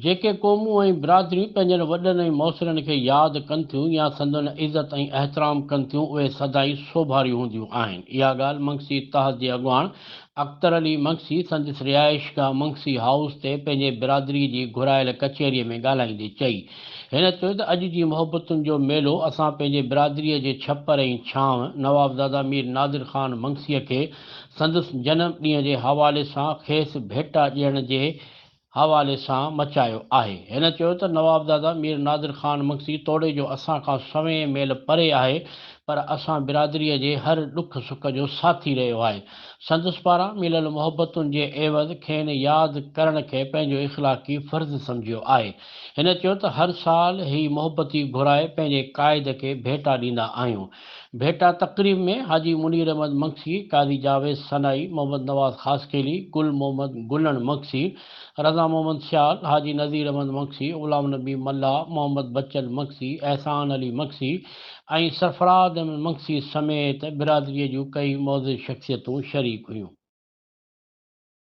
جيڪي قومون ۽ برادريون پنهنجن وڏن ۽ مؤثرن کي ياد ڪن ٿيون يا سندن عزت ۽ احترام ڪن ٿيون اهي سدائين سوڀاريون هونديون آهن. اها ڳالهه منگسي اتحاد جي اڳواڻ اختر علي منگسي سندس رهائشگاهه منگسي هائوس تي پنهنجي برادري جي گهرايل ڪچهري ۾ ڳالهائيندي چئي. هن چيو ته اڄ جي محبتن جو ميلو اسان پنهنجي برادريء جي ڇپر ۽ ڇانو نوابزاده مير نادر خان منگسيء کي سندس جنم ڏينهن جي حوالي سان کيس ڀيٽا ڏيڻ جي حوالي سان مچايو آهي. هن چيو ته نوابزاده مير نادر خان منگسي توڙي جو اسان کان سوين ميل پري آهي پر اسان برادريء جي هر ڏک سک جو ساٿي رهيو آهي. سندس پاران مليل محبتن جي عيوض کين ياد ڪرڻ کي پنهنجو اخلاقي فرض سمجهيو آهي. هن چيو ته هر سال هي محبتي گهرائي پنهنجي قائد کي ڀيٽا ڏيندا آهيون. ڀيٽا تقريب ۾ حاجي منير احمد مگسي، قاضي جاويد سنائي، محمد نواز خاصخيلي، گل محمد گلڻ مگسي، رضا محمد سيال، حاجي نذير احمد مگسي، غلام نبي ملاح، محمد بچل مگسي، احسان علي مگسي ۽ سرفراز احمد مگسي سميت برادري جون ڪيئي معزز شخصيتون شريڪ هيون.